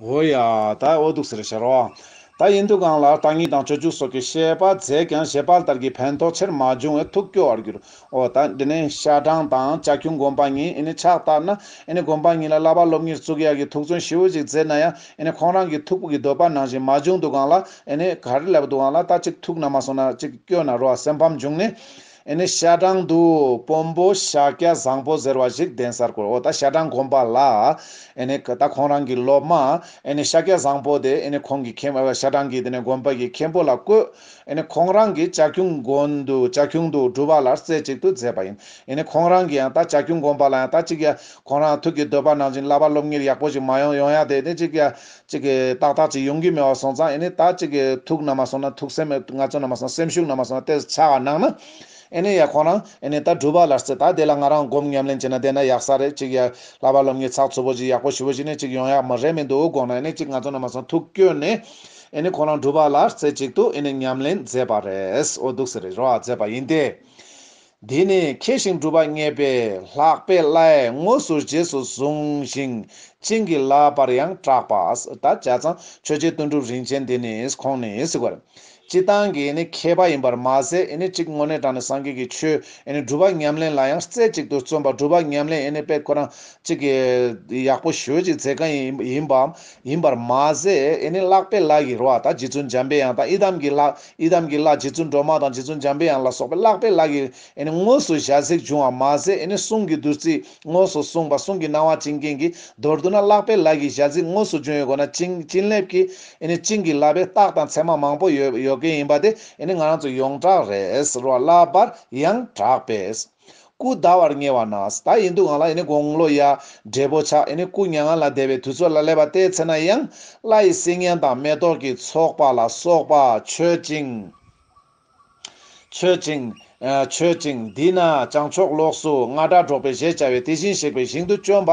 འོ་ཡ། ད་ཨོ་འདུག་ཟེར་ཞེས་རོ། ད་ཡིན་འདུག་གང་ལགས་དང་གཉིས་དང་བཅུ་བཅུ་སོགས་ཀྱི་བཤད་པ་མཛད་ཀྱང་བཞེད་དཔལ་ལྟར་གྱི་ཕན་ཐོགས་ཆེར་མ་བྱུང་བས་ཐུགས་སྐྱོ་བར་གྱུར། འོ་ད་འདི་ནས་ཤ་སྦྲང་དང་བྱ་ཁྱུང་དགོན་པ་གཉིས་ཨེ་ནི་ཕྱག་བཏབ་ན་ཨེ་ནི་དགོན་པ་གཉིས་ལ་བསླབ་པ་སློབ་གཉེར་གཙུག་གཡག་གི་ཐུགས་བརྩོན་ཞི་བོ་ཅིག་མཛད་ན་ཡང་ཨེ་ནི་ཁོང་རང་གི་ཐུགས་སྤུ་གི་འདོད་པ་ནང་བཞིན་མ་བྱུང་འདུག་གང་ལགས་ཨེ་ནི་ག་རེ་ལབ་འདུག་གང་ལགས་ད་ཅིག་ཐུགས་ན་མ་སོང་ན་ཅིག་སྐྱོ་ན་རོ་སེམས་ཕམ་བྱུང་ནས། ཨེ་ནི་ཤ་སྦྲང་དུ་སྤོམ་པོ་ཤཱཀྱ་བཟང་པོ་ཟེར་བ་ཞིག་གདན་སར་བསྐོར་འོ་ད་ཤ་སྦྲང་གོམས་པ་ལ་ཨེ་ནི་ད་ཁོང་རང་གི་སློབ་མ་ཨེ་ནི་ཤཱཀྱ་བཟང་པོ་དེ་ཨེ་ནི་ཁོང་གི་ཁྱིམ་ཨ་ཤ་སྦྲང་གི་དེ་ནས་དགོན་པ་ཡི་མཁན་པོ་ལ་བསྐོས་ཨེ་ནི་ཁོང་རང་གི་བྱ་ཁྱུང་དགོན་དུ་བྱ་ཁྱུང་དུ་སྒྲུབ་པ་ལ་རྩེ་གཅིག་ཏུ་མཛད་པ་ཡིན་ཨེ་ནི་ཁོང་རང་གི་ཡང་ད་བྱ་ཁྱུང་དགོན་པ་ལ་ཡང་ད་ཅིག་ཡ་ཁོང་རང་ཐུགས་ཀྱི་འདོད་པ་ནང་བཞིན་བླ་པ་སློབ་གཉེར་ཡག་པོ་ཞིག་མ་ཡོང་ཡོང་ཡ་དེ་ནི་ཅིག་ཡ་གཅིག་གིས་ཏག་ཏག་ཅིག་ཡོང་གི་མེད་བ་སོང་ཙང་ཨེ་ནི་ད་གཅིག་གིས་ཐུག་ན་མ་སོང་ན་ཐུག་སེམས་མེད་ང་ཚོ་ན་མ་སོང་སེམས་ཤུགས་ན་མ་སོང་ཏེ་ཆ་ག་ནང་ན་ཨེ་ནི་ཡ་ཁོང་རང་ཨེ་ནི་ད་སྒྲུབ་པ་ལར་སེ་ད་དེ་ལ་ང་རང་སྒོམ་ཉམས་ལེན་བྱེད་ན་བསྡད་ན་ཡག་ས་རེད་གཅིག་ཡ་ལྷ་བ་སློབ་གཉེར་ཚགས་ཚུད་པོ་ཅིག་ཡག་པོ་ཞུ་བོ་ཅིག་ནས་གཅིག་ཡོང་ཡག་མི་རེད་མི་འདུག་དགོངས་ན་ཨེ་ནི་གཅིག་ང་ཚོ་ན་མ་སོང་ཐུག་བསྐྱོད་ནས་ཨེ་ནི་ཁོང་རང་སྒྲུབ་པ་ལར་སེ་གཅིག་ཏུ་ཨེ་ནི་ཉམས་ལེན་མཛད་པ་རེད་འོ་འདུག་ཟེར་རེ་རོ་ཨ་མཛད་པ་ཡིན་ཏེ། དེ་ནས་མཁས་ཤིང་གྲུབ་པ་བརྙེས་པས་ལྷག་པའི་བླའི་དངོས་སུ་རྗེས་སུ་བཟུང་ཞིང་བྱིན་གྱིས་བརླབས་པར་ཡང་གྲགས་པ། ད་བྱ་ཚང་ཆོས་རྗེ་དོན་གྲུབ་རིན་ཆེན་འདི་ནི་ཁོང་ནི་གཟིགས་པར་སྤྱི་བཏང་གི་མཁས་པ་ཡིན་པར་མ་ཟད་གཅིག་དངོས་གནས་དྲང་ནས་སངས་རྒྱས་ཀྱི་ཆོས་སྒྲུབ་པ་ཉམས་ལེན་ལ་ཡང་རྩེ་གཅིག་ཏུ་བརྩོན་པ་སྒྲུབ་པ་ཉམས་ལེན་དཔེ་ཁོ་རང་གཅིག་གི་ཡག་པོ་ཞོལ་གྱི་མཛད་མཁན་ཡིན་པ་ཡིན་པར་མ་ཟད་ལྷག་པའི་བླ་ཡི་རོ་ད་རྗེ་བཙུན་འཇམ་པའི་ཡང་དག་ཡི་དམ་གྱི་ལྷ་ཡི་དམ་གྱི་ལྷ་རྗེ་བཙུན་སྒྲོལ་མ་དང་རྗེ་བཙུན་འཇམ་པའི་དབྱངས་ལ་སོགས་པའི་བཀླག་པའི་ལག་གིས་དངོས་སུ་ཞལ་གཟིགས་བྱུང་བ་མ་ཟད་གསུང་གི་བདུད་རྩི་དངོས་སུ་གསུངས་པ་གསུང་གི་སྣང་བ་བྱིན་རྐྱེན་གྱི་མདོར་བསྡུ་ན་བཀླག་པའི་ལག་གིས་ཞལ་གཟིགས་དངོས་སུ་བྱུང་ཡོད་དགོས་ན་བྱིན་རླབས་ཀྱི་བྱིན་གྱིས་བརླབས་པའི་རྟགས་དང་མཚན་མ་མང་པོ་ཡོད་ཡོད་སྐད་ཡིན་པ་དེ་ང་རང་ཚོ་ཡོངས་གྲགས་རེད་བསླབ་པར་ཡང་གྲགས་པས། སྐུ་ཟླ་བར་ཉེ་བ་ན་ཟླ་ཡི་འདུག་ང་ལ་ཡིན་ནི་དགོང་ལོ་ཡར་འབྲས་བུ་ཆགས་ཡིན་ནི་སྐུ་མྱ་ངན་ལ་བདེ་བའི་དུས་ཚོད་ལ་སླེབས་པ་ལྟའི་ཚེ་ན་ཡང་བླ་ཡི་སིལ་སྙན་དང་མེ་ཏོག་གི་ཚོགས་པ་ལ་སོགས་པ་མཆོད་ཅིང། མཆོད་ཅིང། མཆོད་ཅིང། འདི་ན་བྱང་ཕྱོགས་ལོགས་སུ་རྔ་སྒྲ་སྒྲོགས་པའི་གཞས་བྱ་བའི་དེ་བཞིན་གཤེགས་པའི་ཞིང་དུ་སྤྱོན་པ་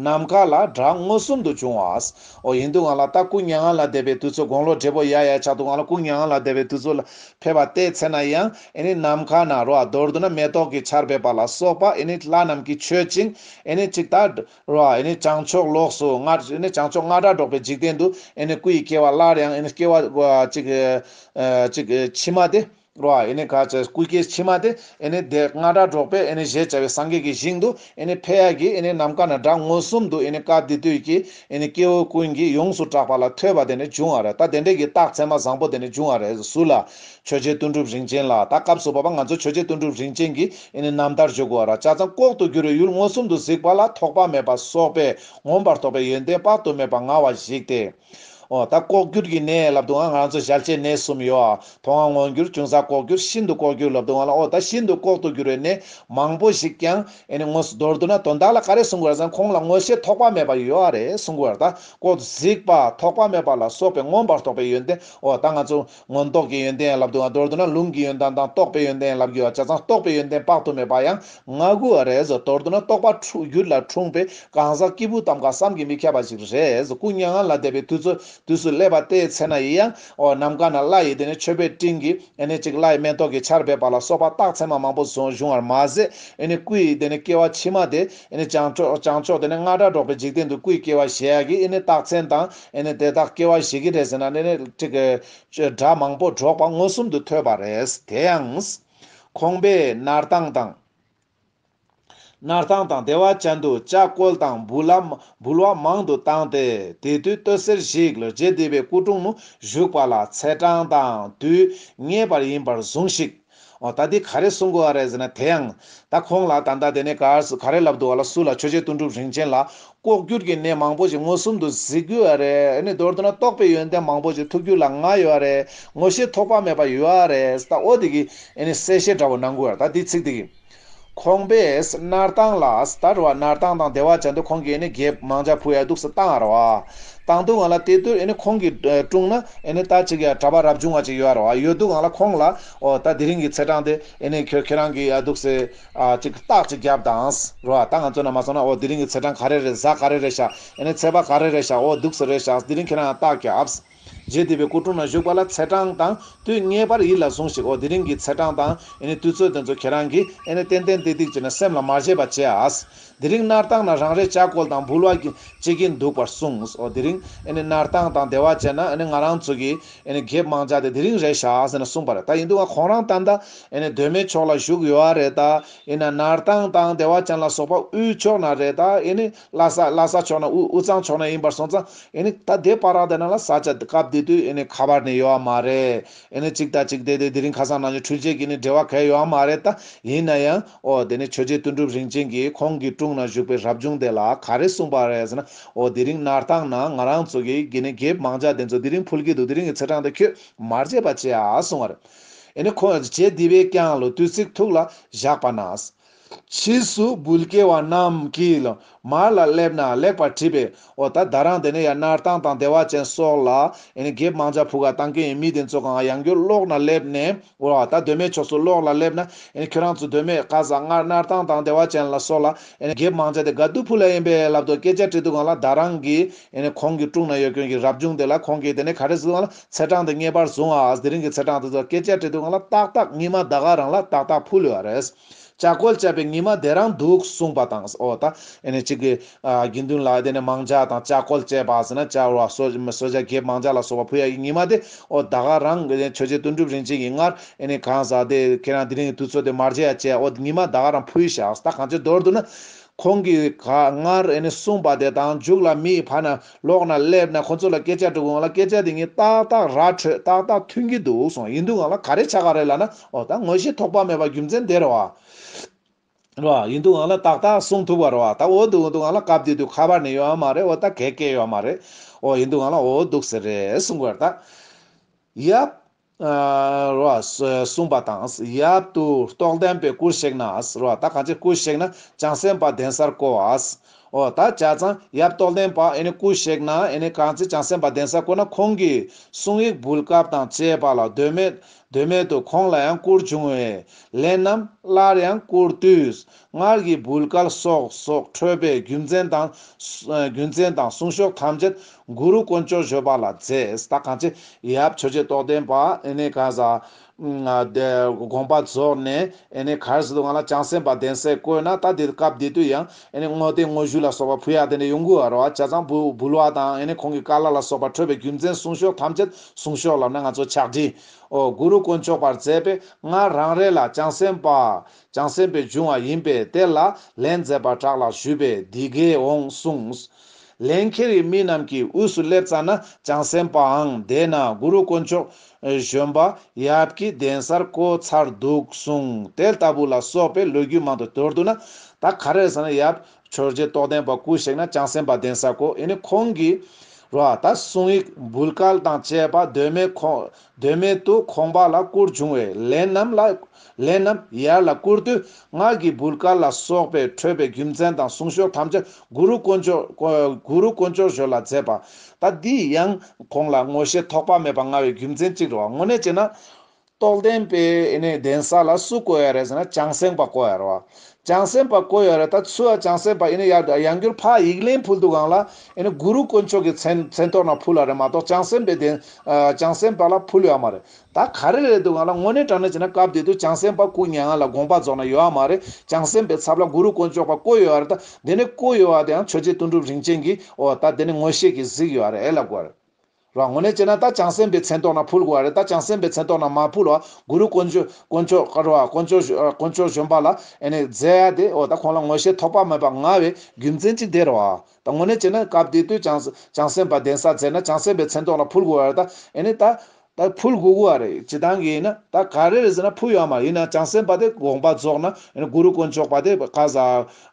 ནམ་མཁའ་ལ་བྲག་མངོན་སུམ་དུ་བྱུང་བའོ། ཡིན་འདུག་ང་ལ་ད་སྐུ་མྱ་ངན་ལ་བདེ་བའི་དུས་ཚོད་དགོང་ལོ་འབྲས་བུ་ཡར་ཡར་ཆགས་འདུག་ང་ལ་སྐུ་མྱ་ངན་ལ་བདེ་བའི་དུས་ཚོད་ལ་ཕེབས་པ་ལྟའི་ཚེ་ན་ཡང། ཨེ་ནི་ནམ་མཁའ་ན་རོ་རྡོར་དུ་ན་མེ་ཏོག་གི་ཆར་འབེབས་པ་ལ་སོགས་པ་ཨེ་ནི་ལྷ་རྣམས་ཀྱིས་མཆོད་ཅིང་ཨེ་ནི་ཅིག་ཏཱ་རོ་ཨེ་ནི་བྱང་ཕྱོགས་ལོགས་སུ་ང་ཨེ་ནི་བྱང་ཕྱོགས་རྔ་སྒྲ་སྒྲོགས་པའི་འཇིག་རྟེན་དུ་ཨེ་ནི་སྐུ་ཡི་སྐྱེ་བ་སླར་ཡང་ཨེ་ནི་སྐྱེ་བ་ཅིག། ཅིག། ཕྱི་མ་སྟེ། རོ་ཨེ་ནི་ག། སྐུ་སྐྱེ་ཕྱི་མ་སྟེ་ཨེ་ནི་དེ་རྔ་སྒྲ་སྒྲོགས་པས་ཨེ་ནི་བཞད་བྱ་བའི་སངས་རྒྱས་ཀྱི་ཞིང་དུ་ཨེ་ནི་འཕེལ་ཡ་གྱིས་ཨེ་ནི་ནམ་མཁའ་ན་དྲག་མངོན་སུམ་དུ་ཨེ་ནི་སྐབས་འདི་དུས་ཀྱི་ཨེ་ནི་སྐྱེ་བོ་ཀུན་གྱིས་ཡོངས་སུ་གྲགས་པ་ལ་ཐོས་པ་དེ་ནི་འབྱུང་བ་རེད་ད་དེ་འབྲེལ་གྱི་རྟགས་མཚན་མ་བཟང་པོ་དེ་ནི་འབྱུང་བ་རེད་ཟུར་ལ་ཆོས་རྗེ་དོན་གྲུབ་རིན་ཆེན་ལགས་ད་སྐབས་སུ་བབ་པ་ང་ཚོ་ཆོས་རྗེ་དོན་གྲུབ་རིན་ཆེན་གྱི་རྣམ་ཐར་བརྗོད་དགོས་ར་ཆ་ཚང་ལྐོག་ཏུ་གྱུར་བའི་ཡུལ་མངོན་སུམ་དུ་གཟིགས་པ་ལ་ཐོགས་པ་མེད་པ་སོགས་པས་ངོམས་པར་དོགས་པའི་ཡོན་ཏན་དཔག་ཏུ་མེད་པ་མངའ་བ་གཞིགས་ཏེ། ཨོ་ད་ལྐོག་གྱུར་གྱི་གནས་ལབ་དུའང་ང་ཚོ་བཞལ་བྱའི་གནས་གསུམ་ཡོད་ཨ་དོང་ཨ་མངོན་གྱུར་ཅུང་ཟ་ལྐོག་གྱུར་ཤིན་ཏུ་ལྐོག་གྱུར་ལབ་དུའང་ལ་ཨོ་ད་ཤིན་ཏུ་ལྐོག་ཏུ་གྱུར་བའི་གནས་མང་པོ་ཞིག་ཀྱང་དངོས་སུ་མདོར་བསྡུ་ན་དོན་དག་ལ་ག་རེ་གསུང་དགོས་ར་ཚང་ཁོང་ལ་ངོ་ཤེས་ཐོགས་པ་མེད་པ་ཡོད་ཨ་རེ་གསུང་དགོས་ར་ད་ལྐོག་ཏུ་གཟིགས་པ་ཐོགས་པ་མེད་པ་ལ་སོགས་པས་ངོམས་པར་དོགས་པའི་ཡོན་ཏན་ཨོ་ད་ང་ཚོ། མངོན་རྟོགས་ཀྱི་ཡོན་ཏན་ཡན་ལག་དུ་ང་དོར་འདོད་ན་ལུང་གི་ཡོན་ཏན་དང་རྟོགས་པའི་ཡོན་ཏན་ཡན་ལག་བརྒྱུད་བ་བྱ་ཙང་རྟོགས་པའི་ཡོན་ཏན་དཔག་ཏུ་མེད་པ་ཡང་ང་དགུ་བ་རེས་དོར་འདོད་ན་རྟོགས་པ་འཁྲུགས་བརྒྱུད་ལ་འཁྲུངས་པའི་གང་ཟག་སྐྱེས་བུ་ཙམ་ཀ་བསམ་གྱིས་མི་ཁྱབ་པ་ཞིག་རེས་སྐུ་མྱ་ངན་ལ་འདས་པའི་དུས་དུས་སུ་སླེབས་པ་དེའི་ཚེ་ན་ཡི་ཡང་འོ་ནམ་མཁའ་ན་བླ་ཡི་དེ་ནས་མཆོད་པའི་སྤྲིན་གྱི་ཨེ་ནས་ཅིག་བླ་ཡི་མེ་ཏོག་གི་ཆར་འབེབས་པ་ལ་སོགས་པ་རྟགས་མཚན་མ་མང་པོ་བྱུང་བར་མ་ཟད་ཨེ་ནས་སྐུ་ཡི་དེ་ནས་སྐྱེ་བ་ཕྱི་མ་དེ་ཨེ་ནས་བྱང་ཕྱོགས་དེ་ནས་རྔ་སྒྲ་སྒྲོག་པའི་འཇིག་རྟེན་དུ་སྐུའི་སྐྱེ་བ་ཞེས་ཡ་གི་ཨེ་ནས་རྟགས་མཚན་དང། ཨེ་ནི་དེ་དག་སྐྱེ་བ་བཞེས་ཀྱི་རེད་ཟེར་ན་ནི་སྒྲ་མང་པོ་སྒྲོག་པ་མངོན་སུམ་དུ་ཐོས་པ་རེད། དེ་ཡང། ཁོང་པས་སྣར་ཐང་དང། སྣར་ཐང་དང་སྡེ་བ་ཅན་དུ་ལྕགས་སྐོལ་དང་འབུལ་བ་མང་དུ་བཏང་སྟེ་དེ་དུས་སྟོད་གསེར་ཞིག་ལ་རྗེ་འདི་པའི་སྐུ་གྲོང་མོ་བཞུགས་པ་ལ་ཚེས་གྲངས་དང་དུས་ངེས་པར་ཡིན་པར་བཟུང་ཤིག། ཨོ་ད་འདི་ག་རེ་གསུང་དགོས་ཨ་རེད་ཟེར་ན་དེ་ཡང། ད་ཁོང་ལ་ད་ལྟ་དེ་ནས་གར་སུ་ག་རེ་ལབ་འདུག་ཨ་ལ་སུ་ལ་ཆོས་རྗེ་ལྟུང་གྲུབ་རིན་ཆེན་ལ། ལྐོག་གྱུར་གྱི་གནས་མང་པོ་ཞིག་མངོན་སུམ་དུ་གཟིགས་དགོས་ཨ་རེད་ཨེ་ནི་མདོར་བསྡུ་ན་རྟོགས་པའི་ཡོན་ཏན་མང་པོ་ཞིག་ཐུགས་རྒྱུད་ལ་མངའ་ཡོད་ཨ་རེད་ངོ་ཤེས་ཐོགས་པ་མེད་པ་ཡོད་ཨ་རེད་ད་ཨོ་དེ་གི་ཨེ་ནི་གསལ་བཤད་འདྲ་བོ་གནང་དགོས་ཨ་རེད་ད་འདི་ཚིག་དེ་གི། ཁོང་པས་སྣར་ཐང་ལ་སྟར་བ་སྣར་ཐང་དང་སྡེ་བ་བྱ་འདུག་ཁོང་གིས་ནི་རྒྱའི་མང་ཇག་བུ་ཡ་སྡུག་སི་ཏང་ཨར་བ་དང་དུ་ང་ལ་དེ་དུས་ནི་ཁོང་གིས་དཀྲུང་ན་ནི་ད་ཅིག་ཡ་གྲ་པ་རབ་བྱུང་བ་ཅིག་ཡོད་ཨར་བ་ཡོད་འདུག་ང་ལ་ཁོང་ལ་ཨོ་ད་དེ་རིང་གི་ཚེ་གྲངས་དེ་ནི་ཁྱོད་ཁྱེད་རང་གིས་ཡ་སྡུག་སི་ཅིག་རྟགས་ཅིག་བརྒྱབ་དང་རོ་ཨ་ད་ང་ཚོ་ན་མ་སོང་ན་ཨོ་དེ་རིང་གི་ཚེ་གྲངས་ག་རེ་རེད་གཟའ་ག་རེ་རེད་ཤག་ནི་ཚེས་པ་ག་རེ་རེད་ཤག་ཨོ་སྡུག་སི་རེད་ཤག་དེ་རིང་ཁྱེད་རང་ཡང་རྟགས་བརྒྱབས། རྗེ་འདི་པའི་སྐུ་དྲུང་ན་བཞུགས་པ་ལ་ཚེས་གྲངས་དང་དུས་ངེས་པར་ཡིད་ལ་ཟུངས་ཤིག་ཨོ་དེ་རིང་གི་ཚེས་གྲངས་དང་དུས་ཚོད་དེ་ཚོ་ཁྱེད་རང་གིས་ཨེ་ཏན་ཏན་ཏིག་ཏིག་བྱས་ནས་སེམས་ལ་མ་བཞེས་པ་བྱས་ཨཱས། དེ་རིང་སྣར་ཐང་ན་རང་རེ་ལྕགས་སྐོལ་དང་འབུལ་བ་བྱེད་ཀྱིན་འདུག་པར་གསུངས་ཨོ་དེ་རིང་སྣར་ཐང་དང་སྡེ་བ་བྱས་ན་ང་རང་ཚོ་གིས་གེབ་མང་བྱ་སྟེ་དེ་རིང་རེ་བཞག་ཟེར་ནས་གསུངས་པ་རེད་ད་ཡིན་དུས་ང་ཁོང་རང་ད་ལྟ་གདོད་མའི་ཕྱོགས་ལ་བཞུགས་ཡོད་རེད་ད་ཡིན་ན་སྣར་ཐང་དང་སྡེ་བ་ཅན་ལ་སོགས་པ་དབུས་ཕྱོགས་ན་རེད་ད་ཨེ་ནི་ལྷ་ས་ལྷ་ས་ཕྱོགས་ན་དབུས་དབུས་གཙང་ཕྱོགས་ན་ཡིན་པར་སོང་ཙང་ཨེ་ནི་ད་དེ་པར་རག་དེ་ན་ལ་ས་ཆ་སྐབས་དེ་དུས་ཨེ་ནི་ཁ་པར་ནི་ཡོད་བ་མ་རེད་ཨེ་ནི་གཅིག་དང་གཅིག་དེ་དེ་དེ་རིང་ཁ་སང་ནང་ཆོས་འཕྲུལ་ཆས་ཀྱི་ནི་འབྲེལ་བ་གལ་ཡོད་བ་མ་རེད་ད་ཡིན་ན་ཡང་ཨོ་དེ་ནི་ཆོས་རྗེ་དོན་གྲུབ་རིན་ཆེན་གྱིས་ཁོང་གི་དྲུང་ན་བཞུགས་པའི་རབ་བྱུང་དེ་ལ་ག་རེ་གསུངས་པ་རེད་ཟེར་ན་ཨོ་དེ་རིང་ནར་ཐང་ན་ང་རང་ཚོ་གི་དགེ་ནི་དགེ་མང་ཅག་དེ་ཚོ་དེ་རིང་ཕུལ་གྱི་འདུག་དེ་རིང་གི་ཚེས་གྲངས་དེ་ཁྱོད་མར་བརྗེད་པ་བྱེད་ཨ་གསུངས་བ་རེད་ཨེ་ནི་ཁོང་བརྗེད་དེ་བས་ཀྱང་ལོ་དུས་ཚིག་ཐུག་ལ་བཞག་པ་ན། ཕྱིས་སུ་བུ་སྐྱེས་བ་རྣམས་ཀྱིས་ལ་མར་ལ་སླེབ་ན་ལེགས་པར་དྲིས་པས་འོ་ད་ད་རང་དེ་ནས་ཡང་སྣར་ཐང་དང་བདེ་བ་ཅན་སོགས་ལ་འགེབས་མང་ཅག་བུ་ག་དང་ཀན་ཡིན་མི་དེ་ཚོ་གང་ཡང་རྒྱུ་ལོག་ན་སླེབ་ནས་འོ་ད་གདོད་མའི་ཕྱོགས་སུ་ལོག་ལ་སླེབ་ན་ཁྱོད་རང་ཚོ་གདོད་མའི་བཀའ་ཟ་སྔར་སྣར་ཐང་དང་བདེ་བ་ཅན་ལ་སོགས་ལ་འགེབས་མང་ཅག་དེ་ག་དུ་བུ་ལ་ཡིན་པས་ལབ་དོ་སྐད་ཆ་དྲིས་འདུག་གང་ལ་ད་རང་གིས་ཁོང་གི་དཀྲུག་ན་ཡོད་ཁྱོད་ཀྱི་རབ་བྱུང་དེ་ལ་ཁོང་གིས་དེ་ནས་ག་རེ་ཟིག་ལ་ཚེས་གྲངས་དེ་ངེས་པར་བཟུང་ཨཱ། དེ་རིང་གི་ཚེས་གྲངས་དེ་ཚོ་སྐད་ཆ་དྲི་དུང་ང་ལ་ཏག་ཏག་ཉི་མ་ཟླ་ག་རང་ལ་ཏག་ཏག་ཕུལ་བ་རེད། ལྕགས་སྒོལ་བཅད་པའི་ཉི་མ་དེ་རང་འདུག་གསུངས་པ་དང། ཨོ་ད་ཨེ་ནས་གཅིག་གི། དགེ་འདུན་ལགས་དེ་ནས་མང་ལྕགས་དང་ལྕགས་སྒོལ་བཅད་པ་ཟེར་ན་ལྕགས་བོར་བ་བསོད་བྱ་རྒྱས་མང་ལྕགས་ལ་སོགས་པ་ཕུལ་ཡ་གི་ཉི་མ་དེ་ཨོ་ད་ག་རང་གི་ཆོས་རྗེ་དོན་གྲུབ་རིན་ཆེན་གྱི་སྔར་ཨེ་ནས་གང་ཟག་དེ་ཁྱེད་རང་དེ་རིང་གི་དུས་ཚོད་དེ་མར་བཅད་ཡ་བཅད་ཨོ་ཉི་མ་ཟླ་ག་རང་ཕུལ་བཞག་ད་གང་ཅིར་མདོར་བསྡུ་ན། ཁོང་གིས་ག་སྔར་ཨེ་ནས་གསུངས་པ་དེ་དང་འཇུག་ལ་མི་ཡི་བར་ན་ལོགས་ན་སླེབས་ནས་ཁོ་ཚོ་ལ་སྐད་ཆ་དྲུག་འོང་ལ་སྐད་ཆ་དེ་གཉིས་ཏག་ཏག་ར་འཕྲོད་ཏག་ཏག་མཐུན་གྱི་འདུག་གསུངས་ཡིན་འདུག་ང་ལ་ག་རེ་ཆ་ག་རེ་ལ་ན་འོ་ད་ངོ་ཤེས་དོགས་པ་མེད་པ་རྒྱུ་མཚན་དེར་བ་ར་ཡིན་འདུག་ང་ལ་ཏག་ཏག་གསུངས་ཐུབ་བར་བ་ད་འོ་འདུག་འོ་འདུག་ང་ལ་སྐབས་དེ་དུས་ཁ་པར་ནི་ཡོད་ཡ་མ་རེད་འོ་ད་གད་སྐད་ཡོད་མ་རེད་འོ་ཡིན་འདུག་ང་ལ་འོ་འདུག་ཟེར་རེད་གསུངས་བར་ད་ཡབ། རོ། གསུངས་པ་དང་ཡབ་ཏུ་རྟོགས་ལྡན་པའི་སྐུར་གཤེགས་ན། རོ། ད་གང་ཅིའི་སྐུར་གཤེགས་ན་བྱང་སེམས་དཔའ་གདན་སར་བསྐོར་བ། འོ། ད་བྱ་ཙང་ཡབ་རྟོགས་ལྡན་པ་ཨེ་ནི་སྐུར་གཤེགས་ན་ཨེ་ནི་གང་ཚེ་བྱང་སེམས་དཔའ་གདན་སར་བསྐོར་ན་ཁོང་གིས་གསུང་ཡིག་འབུལ་སྐབས་དང་བཅས་པ་ལ་ཟློས་མེད། ཟློས་མེད་དུ་ཁོང་ལ་ཡང་སྐུར་འབྱུང་བས། ལན་ནམ་སླར་ཡང་སྐུར་དུས། སྔར་གྱི་བུལ་ཀལ་སོགས་སོགས་འཕྲོས་པའི་རྒྱུ་མཚན་དང། རྒྱུ་མཚན་དང་གསུང་ཤོག་ཐམས་ཅད་གུ་རུ་དཀོན་མཆོག་བཞོ་པ་ལ་བརྩེས་ད་གང་ཅི་ཡབ་ཆོས་རྗེ་རྟོགས་ལྡན་པདགོངས་པ་རྫོགས་ནས་གར་སོ་དུ་ང་ལ་བྱང་སེམས་དཔའ་གདན་སའི་བཀོད་ན་ད་འདི་སྐབས་འདི་དུས་ཡང་བསྔོ་རྟེན་བསྔོ་ཞུ་ལ་སོགས་པ་ཕུལ་ཡག་དེ་འདྲའི་ཡོང་གི་རོ་བྱ་ཙང་བུལ་བ་དང་ཁོང་གི་བཀའ་ལ་ལ་སོགས་པ་འཕྲོས་པའི་རྒྱུ་མཚན་གསུང་ཤོག་ཐམས་ཅད་གསུང་ཤོག་ལབ་ན་ང་ཚོ་ཕྱག་བྲིས་འོག་གུ་རུ་དཀོན་མཆོག་པར་མཛད་པས་སྔར་རང་རེ་ལ་བྱང་སེམས་དཔའ་ཅང་སེམས་པའི་འབྱུང་བ་ཡིན་པས་དེ་ལ་ལན་མཛད་པར་གྲགས་ལ་ཞུས་པས་འདི་དགེ་འོང་གསུངས། ལན་ཁྱེར་ཡི་མི་རྣམས་ཀྱི་དབུས་སུ་སླེབ་ཙྪ་ན་ཅང་སེམས་པའང་དེ་ན་གུ་རུ་དཀོན་མཆོག་གཞོན་པ་ཡབ་ཀྱི་གདན་སར་བསྐོ་ཚར་འདུག་གསུངས་དེ་ལྟ་བུ་ལ་སོགས་པའི་ལོ་རྒྱུས་མང་དུ་དོར་འདུག་ན་ད་ག་རེར་ཟེར་ན་ཡབ་ཆོས་རྗེ་རྟོགས་ལྡན་པ་སྐུ་གཤེགས་ན་ཅང་སེམས་པ་གདན་སར་བསྐོ་ཡིན་ནི་ཁོང་གིས་རོ་ཨ་ད་གསུང་ཡིག་འབུལ་སྐལ་དང་བཅས་པ་གདོད་མའི་དོན་མེད་དུ་ཁོང་པ་ལ་སྐུར་བྱུང་བས་ལས་རྣམས་ལ། ལས་རྣམས་ཡར་ལ་བསྐུར་དུས་སྔགས་ཀྱི་བུར་དཀར་ལ་སོགས་པས་འཕྲོས་པའི་རྒྱུ་མཚན་དང་གསུང་ཤོག་ཐམས་ཅད་གུ་རུ་དཀོན་མཆོགགུ་རུ་དཀོན་མཆོག་ཞོལ་ལ་མཛད་པ། ད་འདི་ཡང་ཁོང་ལ་ངོ་ཤེས་དོགས་པ་མེད་པར་མངའ་བའི་རྒྱུ་མཚན་གཅིག་རེ་བ་དངོས་གནས་བྱས་ན། རྟོགས་ལྡན་པས་ནི་གདན་ས་ལ་སུ་བསྐོ་ཡ་རེད་ཟེར་ན་བྱང་སེང་པ་བསྐོ་ཡ་རེད་བ། བྱང་སེམས་པ་བཀོད་ཡོད་རེད་ད་ཚུལ་བ་བྱང་སེམས་པ་ཡིན་ན་ཡག་འདྲ་ཡང་འགྱུར་ཕག་ཡིག་ལན་ཕུལ་འདུག་ཨང་ལ་ཨེ་ནི་གུ་རུ་དཀོན་མཆོག་གི་མཚན་མཚན་ཐོག་ན་ཕུལ་བ་རེད་མ་གཏོགས་བྱང་སེམས་པའི་བདེན་བྱང་སེམས་པ་ལ་ཕུལ་ཡོད་མ་རེད་ད་ག་རེ་རེད་འདུག་ཨང་ལ་དངོས་གནས་དྲང་གནས་བྱས་ན་སྐབས་དེ་དུས་བྱང་སེམས་པ་སྐུ་མྱ་ངན་ལ་དགོངས་པ་རྫོགས་ན་ཡོད་མ་རེད་བྱང་སེམས་པའི་ཚབ་ལ་གུ་རུ་དཀོན་མཆོག་པ་བཀོད་ཡོད་རེད་ད་དེ་ནས་བཀོད་ཡོད་བ་དེའང་ཆོས་རྗེ་དོན་གྲུབ་རིན་ཆེན་གྱིས་ཨོ་ད་དེ་ནི་ངོ་ཤེས་ཀྱིས་གཟིགས་ཡོད་རེད་ཨེ་ལ་དགོས་རེད། རང་ངོ་ནས་བྱས་ན་ད་བྱང་སེམས་པའི་མཚན་ཐོག་ན་ཕུལ་དགོས་བ་རེད་ད་བྱང་སེམས་པའི་མཚན་ཐོག་ན་མ་ཕུལ་བ་གུ་རུ་དཀོན་མཆོག་དཀོན་མཆོག་དཀར་བ་དཀོན་མཆོག་དཀོན་མཆོག་གཞོན་པ་ལ་ཨེ་ནས་མཛད་ཡ་དེ་ཨོ་ད་ཁོང་ལ་ངོ་ཤེས་ཐོགས་པ་མེད་པ་ང་བའི་རྒྱུ་མཚན་ཅི་འདེར་བ་ད་ངོ་ནས་བྱས་ན་སྐབས་དེ་དུས་བྱང་བྱང་སེམས་པ་གདན་ས་མཛད་ན་བྱང་སེམས་པའི་མཚན་ཐོག་ན་ཕུལ་དགོས་བ་རེད་ད་ཨེ་ནས་ད་ད་ཕུལ་དགོས་དགོས་བ་རེད་ཇི་ཐང་གིས་ཡིན་ན་ད་ག་རེ་རེད་ཟེར་ན་ཕུལ་ཡོད་མ་ཡིན་ན་བྱང་སེམས་པ་དེ་དགོངས་པ་རྫོགས་ན་ཨེ་ནས་གུ་རུ་དཀོན་མཆོག་པ་དེ་བཀའ་ཟ་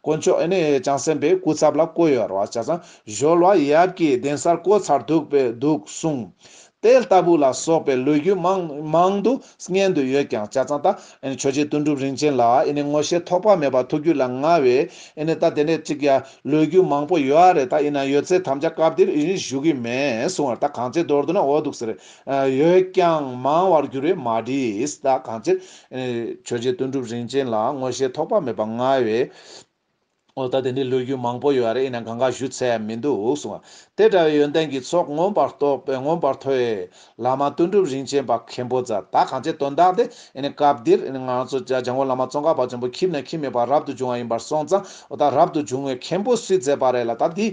དཀོན་མཆོག་ཨེ་ནས་ཀྱང་སེམས་པའི་སྐུ་ཚབ་ལ་བསྐོ་ཡོད་ར་བ་བྱ་ཙང་གཞོལ་བ་ཡབ་ཀྱི་གདན་སར་བསྐོ་ཚར་འདུག་པས་འདུག་གསུང། དེ་ལྟ་བུ་ལ་སོགས་པའི་ལོས་རྒྱུས་མང་མང་དུ་སྙན་དུ་ཡོད་ཀྱང་བྱ་ཙང་ད་ཆོས་རྗེ་དོན་གྲུབ་རིན་ཆེན་ལ་ཨེ་ནས་ངོ་ཤེས་ཐོགས་པ་མེད་པར་ཐུགས་རྒྱུད་ལ་མངའ་བས་ཨེ་ནས་ད་དེ་འདྲས་ཅིག་ཡ་ལོས་རྒྱུས་མང་པོ་ཡོད་ཨ་རེ་ད་ཡིན་ན་ཡོད་ཚད་དམ་བཅའ་སྐབས་འདིར་ཨེ་རིང་བཞུགས་ཀྱི་མེད་གསུང་བར་ད་གང་ཅིར་མདོར་བསྡུ་ན་འོ་འདུག་ཟེར། ཡོད་ཀྱང་མང་བར་འགྱུར་བས་མ་བྲིས་ད་གང་ཅིར། ཆོས་རྗེ་དོན་གྲུབ་རིན་ཆེན་ལ་དངོས་ཤེས་ཐོགས་པ་མེད་པ་མངའ་བས། ཨོ་ད་དེ་འདྲའི་ལོ་རྒྱུས་མང་པོ་ཡོད་རེད་ཨེ་ན་གང་ག་ཞུ་ཚད་ཡང་མི་འདུག་གསུངས། དེ་འདྲ་བའི་ཡོན་ཏན་གྱི་ཚོགས་མངོན་པར་རྟོགས་པའི་མངོན་པར་མཐོ་བའི་བླ་མ་དོན་གྲུབ་རིན་ཆེན་པ་མཁན་པོ་ཛར་ད་གང་བྱས་དོན་དག་དེ་ཨེ་ན་སྐབས་འདིར་ཨེ་ན་ང་ཚོ་ལྗང་གུ་བླ་མ་ཙོང་ཁ་བ་ཆེན་པོ་ཁྱིམ་ནས་ཁྱིམ་མེད་པར་རབ་ཏུ་བྱུང་བ་ཡིན་པར་སོང་ཙང་ཨོ་ད་རབ་ཏུ་བྱུང་བའི་མཁན་པོ་སུས་མཛད་པ་རེད་ལ་ད་འདི་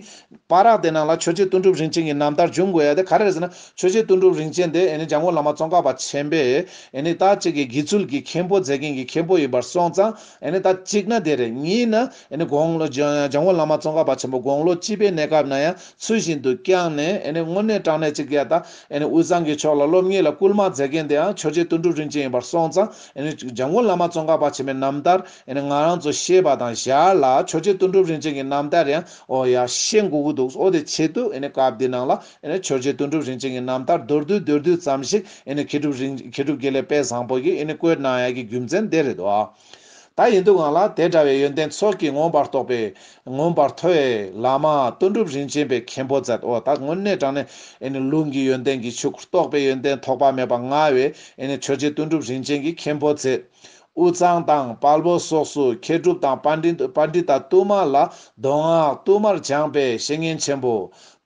པ་རག་དེ་ནང་ལ་ཆོས་རྗེ་ལྟུང་གྲུབ་རིན་ཆེན་གྱི་རྣམ་ཐར་འབྱུང་དགོས་ཡ་དེ་ག་རེ་ཟེར་ན་ཆོས་རྗེ་ལྟུང་གྲུབ་རིན་ཆེན་དེ་ནི་འཇམ་མགོན་བླ་མ་ཙོང་ཁ་པ་ཆེན་པས་ནི་ད་ཅིག་གི་དགེ་ཚུལ་གྱི་མཁན་པོ་མཛད་མཁན་གྱི་མཁན་པོ་ཡིན་པར་སོང་ཙང་ནི་ད་ཅིག་ན་དེ་རེད་གཉིས་ན་ནི་དགོངས་ལོ་འཇམ་མགོན་བླ་མ་ཙོང་ཁ་པ་ཆེན་པོ་དགོངས་ལོ་སྤྱི་པའི་གནས་སྐབས་ན་ཡང་ཚུལ་བཞིན་དུ་བསྐྱངས་ནས་ནི་དངོས་གནས་དྲང་གནས་ཅིག་ཡ་ད་ནི་དབུས་གཙང་གི་ཕྱོགས་ལ་སློབ་གཉེར་ལ་སྐུལ་མ་མཛད་མཁན་དེའང་ཆོས་རྗེ་ལྟུང་གྲུབ་རིན་ཆེན་ཡིན་པར་སོང་ཙང་ནི་འཇམ་མགོན་བླ་མ་ཙོང་ཁ་པ་ཆེན་པའི་རྣམ་ཐར་ནི་ང་རང་ཚོ་ཤེས་པ་དང་བཞག་ལ་ཆོས་རྗེ་ལྟུང་གྲུབ་རིན་ཆེན་གྱི་རྣམ་ཐར་ཡང་ཨོ་ཡ། ཤེས་མགུ་གི་འདུག་ཨོ་དེ་ཆེད་དུ་ཨེ་ནས་སྐབས་འདི་ནང་ལ་ཨེ་ནས་ཆོས་རྗེ་དོན་གྲུབ་རིན་ཆེན་གྱི་རྣམ་ཐར་མདོར་བསྡུས་མདོར་བསྡུས་ཙམ་ཞིག་ཨེ་ནས་མཁས་གྲུབ་རིན་མཁས་གྲུབ་དགེ་ལེགས་དཔལ་བཟང་པོ་གྱིས་ཨེ་ནས་བཀོད་གནང་ཡག་གི་རྒྱུ་མཚན་དེ་རེད་དོ། ད་ཡིན་འདུག་ང་ལ་དེ་འདྲ་བའི་ཡོན་ཏན་ཚོགས་ཀྱིས་མངོན་པར་རྟོགས་པའི། མངོན་པར་མཐོ་བའི། བླ་མ། དོན་གྲུབ་རིན་ཆེན་པའི་མཁན་པོ་མཛད་དོ། ད་དངོས་གནས་དྲང་ནས་ཨེ་ནས་ལུང་གི་ཡོན་ཏན་གྱིས་ཕྱུག་རྟོགས་པའི་ཡོན་ཏན་ཐོགས་པ་མེད་པ་མངའ་བའི་ཨེ་ནས་ཆོས་རྗེ་དོན་གྲུབ་རིན་ཆེན་གྱི་མཁན་པོ་མཛད། དབུས་གཙང་དང་དཔལ་བོ་སོགས་སུ་མཁས་གྲུབ་དང་དཔའ་འབྲི་ད་ཏུ་མ་ལ་མདོ་སྔགས་བསྟུད་མར་སྦྱངས་པའི་བཤེས་གཉེན་ཆེན་པོ།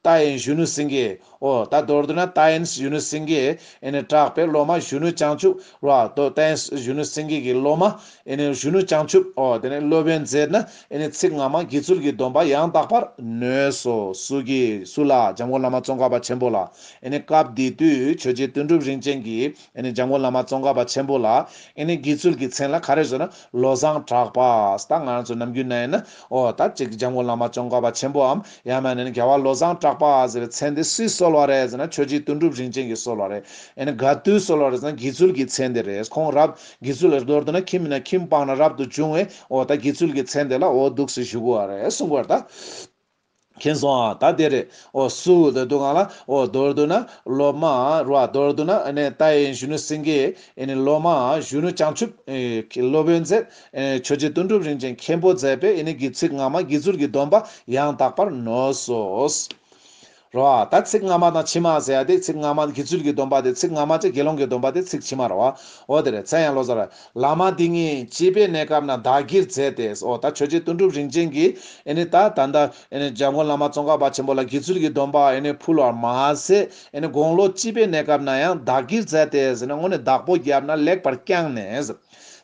རྟ་ཨེན་གཞོན་ནུ་སེང་གེ། ཨོ། ད་མདོར་བསྡུ་ན་རྟ་ཨེན་གཞོན་ནུ་སེང་གེ། ཨེན། གྲགས་པའི་སློབ་མ་གཞོན་ནུ་བྱང་ཆུབ། ར། རྟ་ཨེན་གཞོན་ནུ་སེང་གེ་གི་སློབ་མ། ཨེན། གཞོན་ནུ་བྱང་ཆུབ། ཨོ། དེ་ནས་སློབ་དཔོན་མཛད་ན་ཨེན། ཚིག་སྔ་མ་དགེ་ཚུལ་གྱི་སྡོམ་པ་ཡང་དག་པར་ནོས་སོ། སུ་གི། སུ་ལ། འཇམ་མགོན་བླ་མ་ཙོང་ཁ་པ་ཆེན་པོ་ལ། ཨེན། སྐབས་འདི་དུས་ཆོས་རྗེ་དོན་གྲུབ་རིན་ཅེན་གྱིས། ཨེ་ནི་འཇམ་མགོན་བླ་མ་ཙོང་ཁ་པ་ཆེན་པོ་ལ། ཨེ་ནི་དགེ་ཚུལ་གྱི་མཚན་ལ་ག་རེ་བཟོས་ན། བློ་བཟང་གྲགས་པ། ད་ང་རང་ཚོ་ནམ་རྒྱུན་ན་ཡིན་ན། ཨོ། ད་ཅིག་འཇམ་མགོན་བླ་མ་ཙོང་ཁ་པ་ཆེན་པོའམ། ཡང་ན་ནི་རྒྱལ་བ་བློ་བཟང་གྲགས་པ་ཟེར་བའི་མཚན་དེ་སུས་གསོལ་བ་རེད་ཟེར་ན་ཆོས་རྗེ་དོན་གྲུབ་རིན་ཆེན་གྱིས་གསོལ་བ་རེད། ཨེ་ནི་དགའ་བཏུས་གསོལ་བ་རེད་ཟེར་ན་དགེ་ཚུལ་གྱི་མཚན་དེ་རེད། ཁོང་རབ། དགེ་ཚུལ་ལ་མདོར་བསྡུ་ན་ཁྱིམ་མིན་ན་ཁྱིམ་སྤངས་ན་རབ་ཏུ་བྱུང་བས། ཨོ། ད་དགེ་ཚུལ་གྱི་མཚན་དེ་ལ་ཨོ། འདུག་ཟེར་ཞུ་དགོས་བ་རེད་གསུངས་པར་ད། མཁྱེན་སོང་ཨ། ད་དེ་རེད། ཨོ། སུ། ད་དུ་གང་ལ། ཨོ། རྡོར་དུ་ན། ལོ་མ། རུ་ཨ། རྡོར་དུ་ན། ཨ་ནི། ད་ཨེ། གཞོན་ནུ་སེང་གེ། ཨེ་ནི། ལོ་མ། གཞོན་ནུ་བྱང་ཆུབ། ཨེ། སློབ་དཔོན་མཛད། ཨེ་ནི། ཆོས་རྗེ་དོན་གྲུབ་རིན་ཆེན་མཁན་པོ་མཛད་པས་ཨེ་ནི། གྱི་ཚིག་སྔ་མ་དགེ་ཚུལ་གྱི་སྡོམ་པ་ཡང་དག་པར་ནོས་སོ། རུ་ཨ། ད་ཚིག་སྔ་མ་དང་ཕྱི་མ་ཟེར་ཡ་དེ་ཚིག་སྔ་མ་དགེ་ཚུལ་གྱི་སྡོམ་པ་དེ་ཚིག་སྔ་མ་ཅེ་དགེ་སློང་གི་སྡོམ་པ་དེ་ཚིག་ཕྱི་མ་རུ་ཨ། ཨོ། དེ་རེད། ཚད་ཡང་ལོ་ཙཱ་ར། བླ་མ་འདི་གཉིས་སྐྱིད་པའི་གནས་སྐབས་ན་བདག་གིར་མཛད་དེ། ཨོ་ད་ཆོས་རྗེ་དོན་གྲུབ་རིན་ཆེན་གྱིས་ད་ད་ལྟ་འཇམ་མགོན་བླ་མ་ཙོང་ཁ་པ་ཆེན་པོ་ལ་དགེ་ཚུལ་གྱི་སྡོམ་པ་ཕུལ་བར་མ་ཟད་དགུང་ལོ་སྐྱིད་པའི་གནས་སྐབས་ན་ཡང་བདག་གིར་མཛད་དེ་ཟེར་ནས་སྔོན་ནས་བདག་པོ་རྒྱབ་ན་ལེགས་པར་བསྐྱངས་ནས།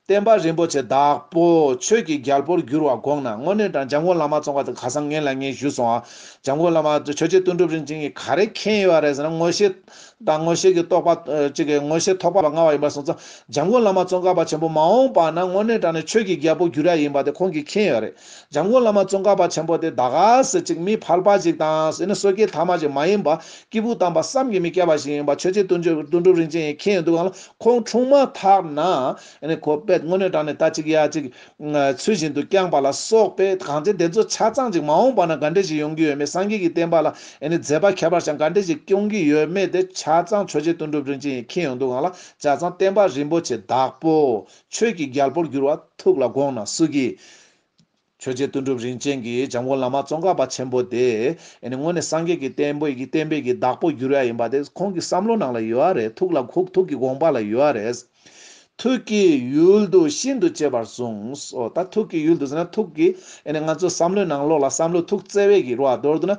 བསྟན་པ་རིན་པོ་ཆེ་བདག་པོ་ཆོས་ཀྱི་རྒྱལ་པོར་བསྒྱུར་བ་དགོངས་ན་དངོས་གནས་འཇམ་མགོན་བླ་མ་ཙོང་ཁ་ག་ས་ངན་ལ་ངས་ཞུས་སོང་ཨ། འཇམ་མགོན་བླ་མ་ཆོས་རྗེ་དོན་གྲུབ་རིན་ཆེན་གྱིས་ག་རེ་མཁྱེན་ཡོད་རེད་ཟེར་ན་དངོས་བཤད། དང་ངོ་ཤེས་ཀྱི་རྟོག་པ། གཅིག་གིས་ངོ་ཤེས་ཐོགས་པ་མངའ་བ་ཡིན་པར་གསུངས་སོ། འཇམ་མགོན་བླ་མ་ཙོང་ཁ་པ་ཆེན་པོ་མ་འོངས་པ་ན་དངོས་གནས་དྲང་ནས་ཆོས་ཀྱི་རྒྱལ་པོ་གྱུར་ཡ་ཡིན་པ་དེ་ཁོང་གིས་མཁྱེན་ཡོད་རེད། འཇམ་མགོན་བླ་མ་ཙོང་ཁ་པ་ཆེན་པོ་དེ་ད་ག་ཟེ་གཅིག་མི་ཕལ་པ་ཞིག་དང་ཟེ་ནི་སོ་སྐྱེའི་ཐ་མ་ཞིག་མ་ཡིན་པ། སྐྱེས་བུ་དམ་པ་བསམ་གྱིས་མི་ཁྱབ་པ་ཞིག་ཡིན་པ་ཆོས་རྗེ་དུང་སྒྲུབ་རིན་ཆེན་ཡིས་མཁྱེན་ཡོད་འདུག་གང་ལ་ཁོང་འཁྲུངས་མ་ཐག་ན། ཁོ་པས་དངོས་གནས་དྲང་ནས་ད་གཅིག་ཡ་གཅིག། ཚུལ་བཞིན་དུ་བསྐྱངས་པ་ལ་སོགས་པས་གང་ཅི་འདི་ཚོ་ཆ་ཚང་ཅིག་མ་འོངས་པ་ན་ག་འདྲས་ཞིག་ཡོང་གི་ཡོད་མེད་སངས་རྒྱས་ཀྱི་བསྟན་པ་ལ་ཡིན་ནི་མཛད་པ་ཁྱད་པར་ཞིང་ག་འདྲས་ཞིག་སྐྱོང་གི་ཡོད་མེད་དེ་ཆ་ཚང་ཆོས་རྗེ་དོན་གྲུབ་རིན་ཆེན་ཡིན་མཁྱེན་ཡོང་འདུག་གང་ལ་ཆ་ཚང་བསྟན་པ་རིན་པོ་ཆེ་བདག་པོ་ཆོས་ཀྱི་རྒྱལ་པོར་འགྱུར་བ་ཐུགས་ལ་དགོངས་ན་སུ་གི། ཆོས་རྗེ་དོན་གྲུབ་རིན་ཆེན་གྱིས་འཇམ་མགོན་བླ་མ་ཙོང་ཁ་པ་ཆེན་པོ་དེ་སྔོན་ནས་སངས་རྒྱས་ཀྱི་བསྟན་པའི་བསྟན་པའི་བདག་པོ་འགྱུར་ཡ་ཡིན་པ་དེ་ཁོང་གི་བསམ་བློ་ནང་ལ་ཡོད་རེད་ཐུགས་ལ་ཁུག་ཐུགས་ཀྱི་དགོངས་པ་ལ་ཡོད་རེད། ཐུགས་ཀྱི་ཡུལ་དུ་ཤིན་ཏུ་གཅེས་པར་གསུངས་སོ། ད་ཐུགས་ཀྱི་ཡུལ་དུ་ཟེར་ན་ཐུགས་ཀྱི། ཡེ་ནས་ང་ཚོའི་བསམ་བློའི་ནང་ལོགས་ལ་བསམ་བློའི་ཐུགས་བརྩེ་བས་བགྱི་རུ་བ་འདོར་འདུག་ན།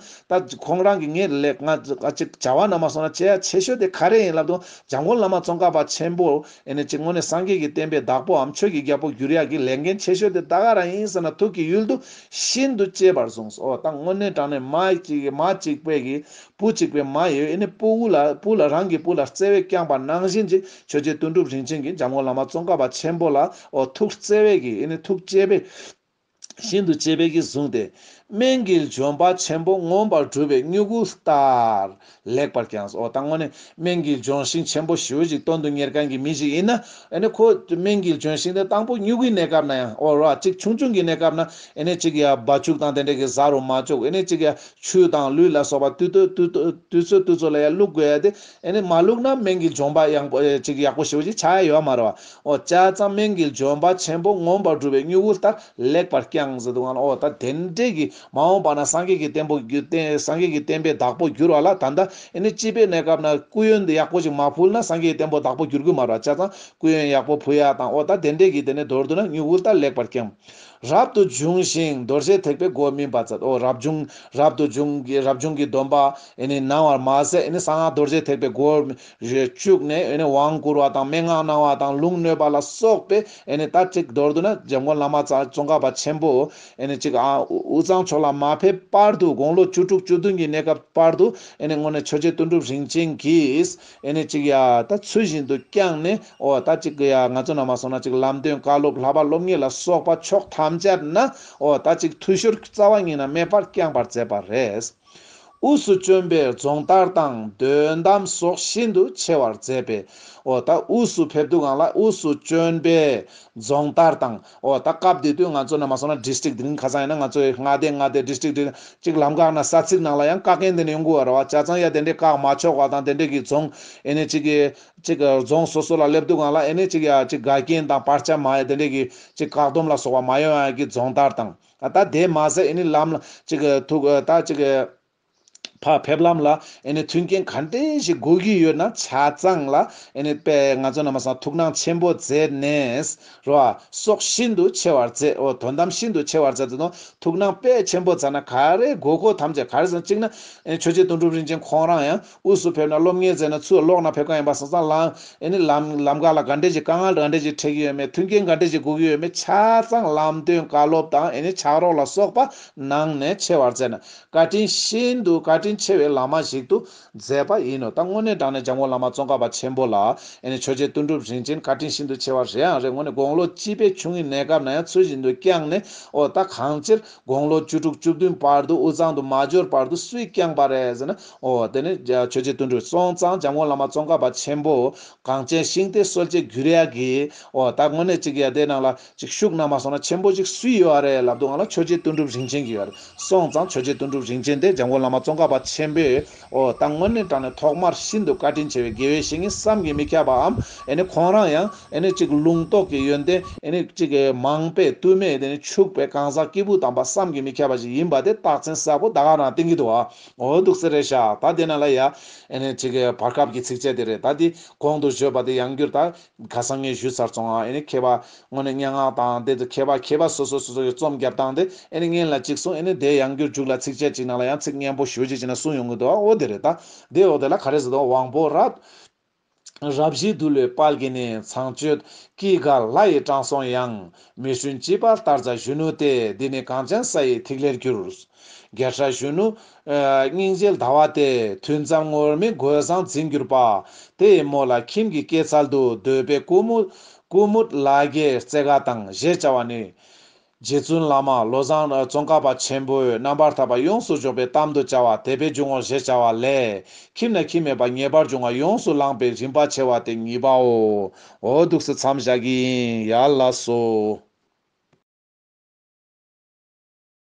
ད་ཁོང་རང་གིས་ངའི་ལེགས་ང་ཅིག་བྱ་བ་རྣམས་མ་སོང་ན་ཆེས་ཡ་ཆེས་ཤོས་དེ་ག་རེ་ཡིན་ལབ་དུས་འཇམ་མགོན་བླ་མ་ཙོང་ཁ་པ་ཆེན་པོ། ཡེ་ནས་ཀྱི་ངོ་ནས་སངས་རྒྱས་ཀྱི་བསྟན་པའི་བདག་པོའམ་ཆོས་ཀྱི་རྒྱལ་པོ་བསྒྱུར་ཡག་གི་ལས་འགན་ཆེ་ཤོས་དེ་ད་ག་རང་ཡིན་ཟེར་ན་ཐུགས་ཀྱི་ཡུལ་དུ་ཤིན་ཏུ་གཅེས་པར་གསུངས་སོ། ད་དངོས་གནས་དྲང་ནས་མ་གཅིག་པས་བགྱི། བུ་གཅིག་པའི་མ་ཡོས་ནི་སྤུ་བོ་ལ་སྤུ་ལ་རང་གི་སྤུ་ལ་བརྩེ་བས་བསྐྱངས་པ་ནང་བཞིན་གྱི་ཆོས་རྗེ་དོན་གྲུབ་རིན་ཆེན་གྱིས་འཇམ་མགོན་བླ་མ་ཙོང་ཁ་པ་ཆེན་པོ་ལ་ཨོ་ཐུགས་བརྩེ་བས་ཀྱིས་ནི་ཐུགས་བསྐྱེད་པས། ཤིན་ཏུ་གཅེས་པས་ཀྱིས་བཟུང་སྟེ། སྨན་གྱི་ལྗོན་པ་ཆེན་པོ་མངོན་པར་བསྒྲུབས་པའི་སྨྱུ་གུ་ལྟར་ལེགས་པར་བརྐྱངས་སོ། ད་དངོས་ནས་སྨན་གྱི་ལྗོན་ཤིང་ཆེན་པོ་ཞི་བོ་ཞིག་སྟོན་དུ་གཉེར་མཁན་གྱི་མི་ཞིག་ཡིན་ན། ཁོ་སྨན་གྱི་ལྗོན་ཤིང་དེ་དང་པོ་སྨྱུ་གུའི་གནས་སྐབས་ན་ཡང་ཨོ་རོག་གཅིག་ཆུང་ཆུང་གི་གནས་སྐབས་ན། གཅིག་ཡ་བ་བཅུག་དང་དེ་འདྲ་གི་བཟའ་རུ་མ་བཅུག་གཅིག་ཡ་ཆུ་དང་ལུད་ལ་སོགས་པ་བཏུད་ཚོད་བཏུད་ཚོད་ལ་ཡང་བླུག་དགོས་ཡ་དེ། ཨེ་ནས་མ་བླུག་ན་སྨན་གྱི་འཇོམས་པ་ཡང་པོ་ཅིག་ཡག་པོ་ཞིག་ཅིག་ཆགས་ཡ་ཡོད་མ་རེད། འོ་ཅག་ཙམ་སྨན་གྱི་འཇོམས་པ་ཆེན་པོ་མངོན་པར་འགྲུབ་པའི་སྨྱུ་གུ་ལྟར་ལེགས་པར་བསྐྱངས་ཟེར་འདུག་ཨང་འོ་ད་དེ་འདྲས་ཀྱི་མ་འོངས་པ་ན་སངས་རྒྱས་ཀྱི་བསྟན་པོ་སངས་རྒྱས་ཀྱི་བསྟན་པའི་བདག་པོ་འགྱུར་བ་ལ་ད་ལྟ་ཨེ་ནས་སྐྱིད་པའི་གནས་སྐབས་ན་སྐུ་ཡོན་འདི་ཡག་པོ་ཅིག་མ་ཕུལ་ན་སངས་རྒྱས་ཀྱི་བསྟན་པོ་བདག་པོ་འགྱུར་གི་མ་རེད་འོ་ཅག་ཙམ་སྐུ་ཡོན་ཡག་པོ་ཕུལ་ཡ་དང་འོ་ད་དེ་འདྲས་ཀྱི་དེ་ནས་མདོར་བསྡུ་ན་སྨྱུ་གུ་ལྟར་ལེགས་པར་བསྐྱངས། རབ་ཏུ་འབྱུང་ཞིང་རྡོ་རྗེ་ཐེག་པའི་སྒོ་སྨིན་པ་ཚད་འོ་རབ་འབྱུང་རབ་ཏུ་འབྱུང་གི་རབ་བྱུང་གི་སྡོམ་པ་གནང་བར་མ་ཟད་གསང་སྔགས་རྡོ་རྗེ་ཐེག་པའི་སྒོར་བཅུག་ནས་དབང་བསྐུར་བ་དང་མན་ངག་གནང་བ་དང་ལུང་ནོད་པ་ལ་སོགས་པའི་རྟ་གཅིག་མདོར་བསྡུ་ན་འཇམ་མགོན་བླ་མ་ཙོང་ཁ་པ་ཆེན་པོ་གཅིག་དབུས་གཙང་ཕྱོགས་ལ་མ་ཕེབས་བར་དུ་དགུང་ལོ་བཅུ་དྲུག་བཅུ་བདུན་གྱི་གནས་སྐབས་བར་དུ་སྔོན་ནས་ཆོས་རྗེ་དོན་གྲུབ་རིན་ཆེན་གྱིས། ཨེ་ནས་ཅིག་ཡ། ད་ཚུལ་བཞིན་དུ་བསྐྱངས་ནས་ཨོ་ད་ཅིག་གུ་ཡ་ང་ཚོ་ནང་མ་སོང་ན་ཅིག་ལམ་སྟོན་བཀའ་སློབ་ལྷ་པ་སློབ་ངེས་ལ་སོགས་པ་ཕྱོགས་ཐམས་ཅད་ན་ཨོ་ད་ཅིག་འཐུས་ཤོར་རྩ་བ་ཉིད་ན་མེད་པར་བསྐྱངས་པར་མཛད་པ་རེད། དབུས་སུ་བྱོན་པའི་རྫོང་ལྟར་དང་དོན་གདམས་སོགས་ཤིན་ཏུ་ཆེ་བར་མཛད་པས་ཨོ་ད་དབུས་སུ་ཕེབས་འདུག་གང་ལ་དབུས་སུ་བྱོན་པའི་རྫོང་ལྟར་དང། ཨོ་ད་སྐབས་དེ་དུས་ང་ཚོ་ནས་མ་སོང་ན District འདི་རིང་ཁ་སང་ཡིན་ན་ང་ཚོས་མངའ་སྡེ་མངའ་སྡེ District District གཅིག་ལམ་བཀག་ན་ས་ཚིགས་ནང་ལ་ཡང་བཀག་མཁན་དེ་ནས་ཡོང་དགོས་བ་རེད་བ་བྱ་ཙང་ཡ་དེ་འདྲས་བཀག་མ་ཆོག་བ་དང་དེ་འདྲས་ཀྱི་རྫོང་ཨེ་ནས་གཅིག་གཅིག་རྫོང་སོ་སོ་ལ་སླེབས་དུས་གང་ལ་ཨེ་ནས་གཅིག་ཡ་གཅིག་དགའ་རྐྱེན་དང་བར་ཆ་མ་ཡ་དེ་འདྲས་ཀྱི་གཅིག་བཀག་སྡོམ་ལ་སོགས་བ་མ་ཡོང་ཡ་གི་རྫོང་དར་དང་ད་དེ་མ་ཟད་ཨེ་ནས་ལམ་ལ་གཅིག་ཐུག་ད་གཅིག། བག་ཕེབས་ལམ་ལ་མཐུན་རྐྱེན་ག་འདྲས་ཞིག་དགོས་ཀྱི་ཡོད་ན་ཆ་ཚང་ལ་དཔེ་ང་ཚོ་རྣམ་པ་སང་ཐུགས་སྣང་ཆེན་པོ་མཛད་ནས་རོ། སོགས་ཤིན་ཏུ་ཆེ་བར་མཛད་འོ་དོན་དམ་ཤིན་ཏུ་ཆེ་བར་མཛད་དོ་ནོ་ཐུགས་སྣང་དཔེ་ཆེན་པོ་མཛད་ན་ག་རེ་དགོས་མཁོ་ཐམས་ཅད་ག་རེ་སང་གཅིག་ན་ཆོས་རྗེ་དོན་གྲུབ་རིན་ཆེན་ཁོང་རང་ཡང་དབུས་སུ་ཕེབས་ན་སློབ་གཉེར་མཛད་ན་ཚུར་ལོག་ན་ཕེབས་ག་ཡིན་པ་སང་སང་ལམ་ལམ་ག་ལ་ག་འདྲས་ཞིག་དཀའ་ངལ་ག་འདྲས་ཞིག་འཕྲད་ཀྱི་ཡོད་མེད་མཐུན་རྐྱེན་ག་འདྲས་ཞིག་དགོས་ཀྱི་ཡོད་མེད་ཆ་ཚང་ལམ་སྟོན་བཀའ་སློབ་དང་ཕྱག་རོགས་ལ་སོགས་པ་གནང་ནས་ཆེ་བར་མཛད་ན་བཀའ་དྲིན་ཆེ་འདུག་བཀའ་དྲིན་ཆེ་བའི་ལག་མ་ཞིག་ཏུ་མཛད་པ་ཡིན་ནོ་ད་དངོས་གནས་དྲང་གནས་འཇམ་མགོན་བླ་མ་ཙོང་ཁ་པ་ཆེན་པོ་ལ་ཨེ་ནས་ཆོས་རྗེ་དོན་གྲུབ་རིན་ཆེན་བཀའ་དྲིན་ཤིན་ཏུ་ཆེ་བ་རེད་ཨང་རེད་ངོ་ནས་དགོང་ལོ་གཅིག་པའི་ཆུང་ངུའི་གནས་སྐབས་ན་ཡང་ཚུལ་བཞིན་དུ་བསྐྱངས་ནས་ཨོ་ད་གང་ཕྱིར་དགོང་ལོ་བཅུ་དྲུག་བཅུ་བདུན་བར་དུ་དབུས་གཙང་དུ་མ་འབྱོར་བར་དུ་སུས་བསྐྱངས་པ་རེད་ཟེར་ན་ཨོ་དེ་ནི་ཆོས་རྗེ་དོན་གྲུབ་སོང་ཙང་འཇམ་མགོན་བླ་མ་ཙོང་ཁ་པ་ཆེན་པོ་གངས་ཅན་ཤིང་རྟའི་སྲོལ་འབྱེད་བརྒྱུད་རེ་ཡ་གིས་ཨོ་ད་དངོས་གནས་གཅིག་ཡ་དེ་ནང་ལ་ཅིག་ཤུགས་རྣམས་མ་སོང་ན་ཆེན་པོ་ཅིག་སུས་ཡོད་ཨ་རེད་ལབ་འདུག་ང་ལ་ཆོས་རྗེ་དོན་གྲུབ་རིན་ཆེན་གྱིས་ཡོད་རེད་སོང་ཙང་ཆོས་རྗེ་དོན་གྲུབ་རིན་ཆེན་དེ་འཇམ་མགོན་བླ་མ་ཙོང་ཁ་པ་ཆེན་པོས་འོ་ད་དངོས་གནས་དྲང་ནས་ཐོག་མར་ཤིན་ཏུ་བཀའ་དྲིན་ཆེ་བའི་དགེ་བའི་བཤེས་གཉེན་བསམ་གྱིས་མི་ཁྱབ་པའམ་ཨེ་ནི་ཁོང་རང་ཡང་ཨེ་ནི་ཅིག་ལུང་རྟོགས་ཀྱི་ཡོན་ཏན་ཨེ་ནི་ཅིག་མང་པས་བསྟུད་མེད་དེ་ནི་ཕྱུག་པའི་གང་ཟག་སྐྱེས་བུ་དམ་པ་བསམ་གྱིས་མི་ཁྱབ་པ་ཞིག་ཡིན་པ་དེ་རྟགས་མཚན་གསལ་པོ་ད་ག་རང་གཏན་གྱི་འདུག་ཨ་འོ་འདུག་སེ་རེད་ཤག་ད་དེ་ན་ལ་ཡ་ཨེ་ནི་ཅིག་བར་སྐབས་ཀྱི་ཚིགས་བཅད་དེ་རེད་ད་དེ་གོང་དུ་བརྗོད་པ་དེ་ཡང་བསྒྱུར་ད་ཁ་སང་ངས་ཞུས་ཚར་སོང་ཨ་ཨེ་ནི་མཁས་པ་དངོས་ནས་སྙན་ངག་དང་དེ་ཚོ་མཁས་པ་མཁས་པ་སོ་སོ་སོ་སོ་ཡོད་རྩོམ་རྒྱབ་སྟངས་དེ་ཨེ་ནི་སྙན་ལ་ཅིག་གསུང་ཨེ་ནི་དེ་ཡང་འགྱུར་འཇུག་ལ་ཚིགས་བཅད་ཅིག་ནང་ལ་ཡང་ཚིག་སྙན་པོ་ཞོལ་ཅིག་བྱས་ན་གསུང་ཡོང་གི་འདུག་ཨ་འོ་དེ་རེད་ད། དེ་འོག་དེ་ལ་ག་རེ་ཟེར་དུང་དབང་པོ་རབ། རབ་བཞི་འདུལ་བའི་དཔལ་གྱི་ནི་ཚངས་སྤྱོད། སྐྱེས་དགའ་ལྷ་ཡིས་དྲངས་སོང་ཡང། མི་བསྲུན་སྐྱེས་པ་ལྟར་བཟའ་གཞོན་ནུ་དེ། འདི་ནི་གངས་ཅན་ས་ཡི་ཐིག་ལེར་གྱུར། རྒྱལ་ཁྲ་གཞོན་ནུ། སྙིང་རྗེའི་ཟླ་བ་དེ་དུས་མཚམས་ངོར་མི་རྒོད་བཟང་འཛིན་གྱུར་པ་དེ་ཡི་མོ་ལ་ཁྱིམ་གྱི་སྐྱེད་ཚལ་དུ་སྡོད་པའི་ཀུ་མུ། Kumud། ལ་རྒྱའི་རྩེ་དགའ་དང་གཞས་བྱ་བ་ནི། རྗེ་བཙུན་བླ་མ་བློ་བཟང་ཙོང་ཁ་པ་ཆེན་པོས་རྣམ་པར་ཐར་པ་ཡོངས་སུ་རྗོགས་པའི་གཏམ་དུ་བྱ་བ་དད་པའི་འཇུག་ངོགས་གཞས་བྱ་བ་ལས་ཁྱིམ་ན་ཁྱིམ་མེད་པ་ངེས་པར་འབྱུང་བ་ཡོངས་སུ་བླངས་པའི་རིམ་པ་ཕྱེ་བ་དེ་གཉིས་པའོ། འོ་སྡུག་སེལ་མཚམས་བཞག་གི་ཡིན་ཡ་ལ་སོ།